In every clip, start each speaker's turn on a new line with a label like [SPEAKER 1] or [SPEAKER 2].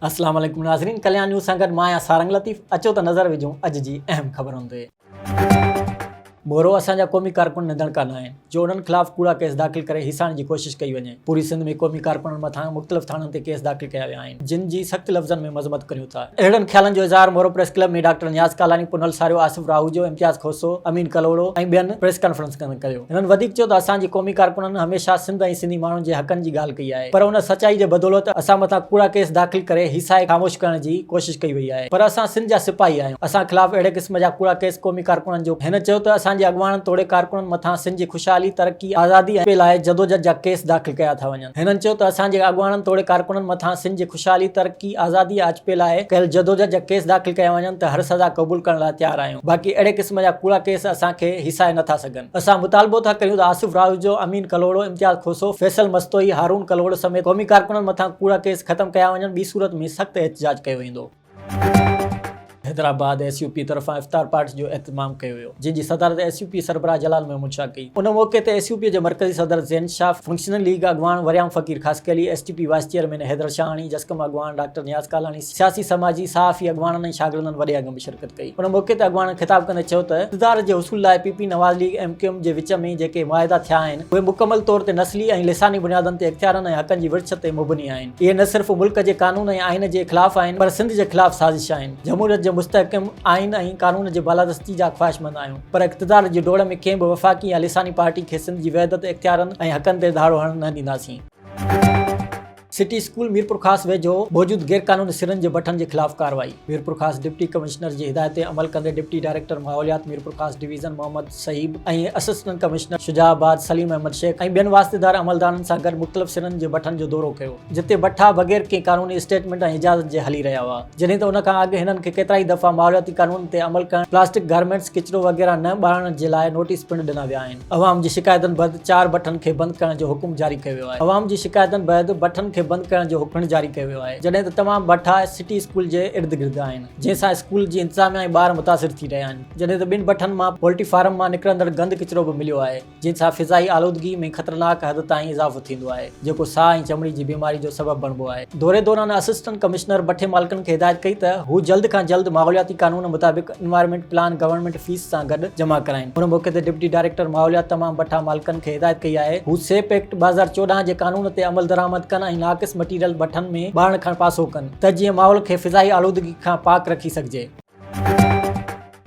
[SPEAKER 1] السلام عليڪم ناظرين ڪليان نيوز سان گڏ مان آهيان سارنگ لطيف اچو ته نظر وجهون اڄ جي اهم خبرن تي مورو اسان جا قومي ڪارڪن نڌڻڪا نه آهن جو انهن خلاف ڪوڙا ڪيس داخل ڪري هيسائڻ جي ڪوشش ڪئي وڃي پوري سنڌ ۾ قومي ڪارڪنن مٿان مختلف ٿاڻن تي ڪيس داخل ڪيا ويا آهن. جن جي سخت لفظن ۾ مذمت ڪريون ٿا. اهڙن خيالن جو اظهار Moro press club ۾ doctor Niaz Kalani, Punhal ساريو، آصف راهوجو، امتياز کوسو، امين ڪلهوڙو ۽ ٻين پريس ڪانفرنس ۾ ڪيو. هنن وڌيڪ چيو ته اسان جي قومي ڪارڪنن هميشه سنڌ ۽ سنڌي ماڻهن جي حقن جي ڳالهه ڪئي آهي پر ان سچائي جي بدولت اسان مٿان ڪوڙا ڪيس داخل ڪري هي ساهي خاموش ڪرڻ جي ڪوشش ڪئي وئي آهي پر اسان سنڌ جا سپاهي آهيون اسان خلاف اهڙي قسم جا ڪوڙا ڪيس قومي ڪارڪنن جو هن چيو ته اسان جي اڳواڻن توڙي ڪارڪنن مٿان سنڌ جي خوشحالي، ترقي، آزادي ۽ لاء جدوجھد جا ڪيس داخل ڪيا ٿا وڃن. هنن چيو ته اسان جي اڳواڻن توڙي ڪارڪنن مٿان سنڌ جي خوشحالي، ترقي، آزادي ۽ آجپي لاء ڪيل جدوجھد جا ڪيس داخل ڪيا وڃن ته هر سزا قبول ڪرڻ لاء تيار آهيون باقي اهڙي قسم جا ڪوڙا ڪيس اسان کي هيسائي نه ٿا سگهن. اسان مطالبو ٿا ڪريون ته آصف راهوجو، امين ڪلهوڙو، امتياز کوسو، فيصل مستوئي، هارون ڪلهوڙو سميت قومي ڪارڪنن مٿان ڪوڙا ڪيس ختم ڪيا وڃن ٻي صورت ۾ سخت احتجاج ڪيو ويندو. حيدرآباد ايس يو پي طرفان افطار پارٽي جو اهتمام ڪيو ويو جنهن جي صدارت ايس يو پي سربراهه جلال محمود شاهه ڪئي ان موقعي تي ايس يو پي جي مرڪزي صدر زين شاهه فنڪشنل ليگ اڳواڻ Waryam Faqir Khaskheli S T P vice chairman Haider Shahani Jasqam اڳواڻ ڊاڪٽر نياز ڪالاڻي سياسي سماجي صحافي اڳواڻن ۽ شاگردن وڏي انگ ۾ شرڪت ڪئي ان موقعي تي اڳواڻن خطاب ڪندي چيو ته اقتدار جي حصول لاء P P Nawaz league M Q M جي وچ ۾ جيڪي معاهدا ٿيا آهن اهي مڪمل طور تي نسلي ۽ لساني بنيادن تي اختيارن ۽ حقن جي ورڇ تي مبني آهن. اهي نه صرف ملڪ جي قانون ۽ آئين جي خلاف آهن پر سنڌ جي خلاف سازش آهن. جمهوريت جي مستحڪم آئين ۽ قانون جي بالادستي جا خواهشمند آهيون پر اقتدار جي ڊوڙ ۾ ڪنهن به وفاقي يا لساني پارٽي کي سنڌ جي وحدت، اختيارن ۽ حقن تي ڌاڙو هڻڻ نه ڏينداسين. سٽي اسڪول ميرپورخاص ويجهو موجود غيرقانوني سرن جي بٺن جي خلاف ڪارروائي، ميرپورخاص ڊپٽي ڪمشنر جي هدايت تي عمل ڪندي ڊپٽي ڊائريڪٽر ماحوليات ميرپورخاص ڊويزن محمد. صيب ۽ assistant commissioner Shujaabad Saleem Ahmed Shaikh ۽ ٻين واسطيدار عملدارن سان گڏ مختلف سرن جي بٺن جو دورو ڪيو جتي بٺا بغير ڪنهن قانوني اسٽيٽمينٽ ۽ اجازت جي هلي رهيا هئا جڏهن ته ان کان اڳ هنن کي ڪيترائي دفعا ماحولياتي قانون تي عمل ڪرڻ پلاسٽڪ گارمينٽس ڪچرو وغيره نه ٻاڙڻ جي لاء نوٽيس پڻ ڏنا ويا آهن عوام جي شڪايتن بعد چار بٺن کي بند ڪرڻ جو حڪم جاري ڪيو ويو آهي عوام جي شڪايتن بعد بٺن کي بند ڪرڻ جو حڪم پڻ جاري ڪيو ويو آهي جڏهن ته تمام بٺا سٽي اسڪول جي ارد گرد آهن جنهن سان اسڪول جي انتظاميا ۽ ٻار متاثر ٿي رهيا آهن. جڏهن ته ٻن بٺن مان پولٽري فارم مان نڪرندڙ گند ڪچرو به مليو آهي جنهن سان فضائي آلودگي ۾ خطرناڪ حد تائين اضافو ٿيندو آهي جيڪو ساهه ۽ چمڙي جي بيماري جو سبب بڻبو آهي دوري دوران اسسٽنٽ ڪمشنر بٺي مالڪن کي هدايت ڪئي ته هو جلد کان جلد ماحولياتي قانون مطابق انوائرمينٽ پلان گورنمينٽ فيس سان گڏ جمع ڪرائين هن موقعي تي ڊپٽي ڊائريڪٽر ماحوليات تمام بٺا مالڪن کي هدايت ڪئي آهي هو سيپ ايڪٽ ٻه هزار چوڏهن جي قانون تي عملدرآمد ڪن ۽ ناقص مٽيريل بٺن ۾ ٻارڻ کان پاسو ڪن ته جيئن ماحول کي فضائي آلودگي کان پاڪ رکي سگهجي.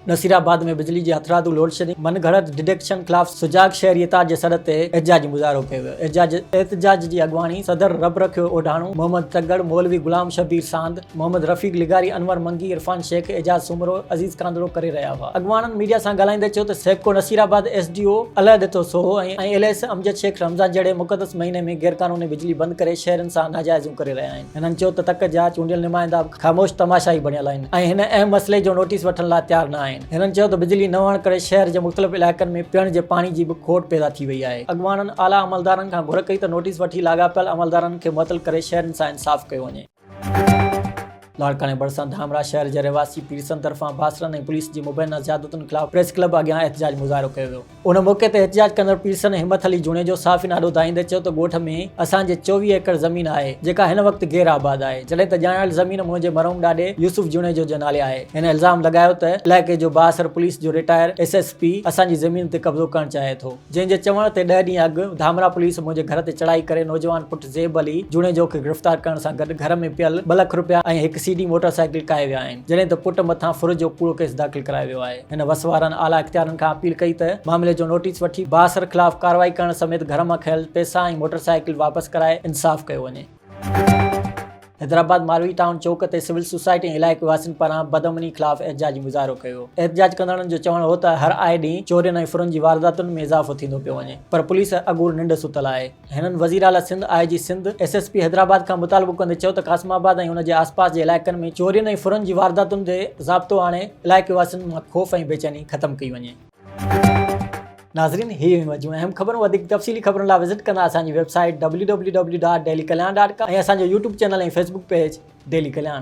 [SPEAKER 1] نصير آباد ۾ بجلي جي هٿرادو لوڊشيڊنگ من گهڙت ڊڊڪشن خلاف سجاڳ شهري اتحاد جي سڏ تي احتجاجي مظاهرو ڪيو ويو احتجاج جي اڳواڻي صدر رب رکيو اوڍاڻو محمد تگڙ مولوي غلام شبير ساند محمد رفيق لغاري انور منگي عرفان شيخ اعجاز سومرو عزيز ڪانڌڙو ڪري رهيا هئا اڳواڻن ميڊيا سان ڳالهائيندي چيو ته SEPCO Naseerabad S D O Allah Dito Soho ۽ L A S Amjad Shaikh Ramzan جهڙي مقدس مهيني ۾ غيرقانوني بجلي بند ڪري شهرين سان ناجائزيون ڪري رهيا آهن هنن چيو ته تڪ جا چونڊيل نمائندا به خاموش تماشائي بڻيل آهن ۽ هن اهم مسئلي جو نوٽيس وٺڻ لاء تيار نه آهن. هنن چيو ته بجلي نه هئڻ ڪري شهر جي مختلف علائقن ۾ پيئڻ جي پاڻي جي به کوٽ پيدا ٿي وئي آهي. اڳواڻن اعليٰ عملدارن کان گهر ڪئي ته نوٽيس وٺي لاڳاپيل عملدارن کي معطل ڪري شهرين سان انصاف ڪيو وڃي. لاڙڪاڻي ڀرسان ڌامراهه شهر جي رهواسي پيرسن طرفان باسرن ۽ پوليس جي مبينا زيادتين خلاف پريس ڪلب اڳيان احتجاج مظاهرو ڪيو ويو. ان موقعي تي احتجاج ڪندڙ پيرسن همت علي جوڻيجو صحافين آڏو دانهيندي چيو ته ڳوٺ ۾ اسان جي چوويهه ايڪڙ زمين آهي جيڪا هن وقت غير آباد آهي جڏهن ته ڄاڻايل زمين منهنجي مرحوم ڏاڏي يوسف جوڻيجو جي نالي آهي هن الزام لڳايو ته علائقي جو بااثر پوليس جو رٽائر ايس ايس پي اسان جي زمين تي قبضو ڪرڻ چاهي ٿو جنهن جي چوڻ تي ڏهه ڏينهن اڳ ڌامرا پوليس منهنجي گهر تي چڙهائي ڪري نوجوان پٽ زيب علي جوڻيجو کي گرفتار ڪرڻ سان گڏ گهر ۾ پيل ٻه لک رپيا ۽ هڪ سي ڊي موٽر سائيڪل ڪاهي ويا آهن جڏهن ته پٽ مٿان ڦر جو ڪوڙو ڪيس داخل ڪرايو ويو آهي هن وس وارن اعليٰ اختيارن کان اپيل ڪئي ته معاملي جو نوٽيس وٺي بااثر خلاف ڪارروائي ڪرڻ سميت گهر مان کنيل پئسا ۽ موٽر سائيڪل واپس ڪرائي انصاف ڪيو وڃي. حيدرآباد ماروي ٽائون چوڪ تي سول سوسائٽي ۽ علائقي واسين پاران بدامني خلاف احتجاجي مظاهرو ڪيو ويو احتجاج ڪندڙن جو چوڻ هو ته هر آئي ڏينهن چورين ۽ ڦرن جي وارداتن ۾ اضافو ٿيندو پيو وڃي پر پوليس اڳور ننڊ ستل آهي هنن وزيراعليٰ Sindh, I G Sindh, S S P Hyderabad کان مطالبو ڪندي چيو ته قاسم آباد ۽ ان جي آسپاس جي علائقن ۾ چورين ۽ ڦرن جي وارداتن تي ضابطو آڻي علائقي واسين مان خوف ۽ بيچيني ختم ڪئي وڃي. ناظرين هي هيون اڄ جون اهم خبرون وڌيڪ تفصيلي خبرن لاء وزٽ ڪندا اسان جي web site W W W dot daily Kalyan dot com ۽ اسان جو YouTube channel ۽ Facebook page daily Kalyan.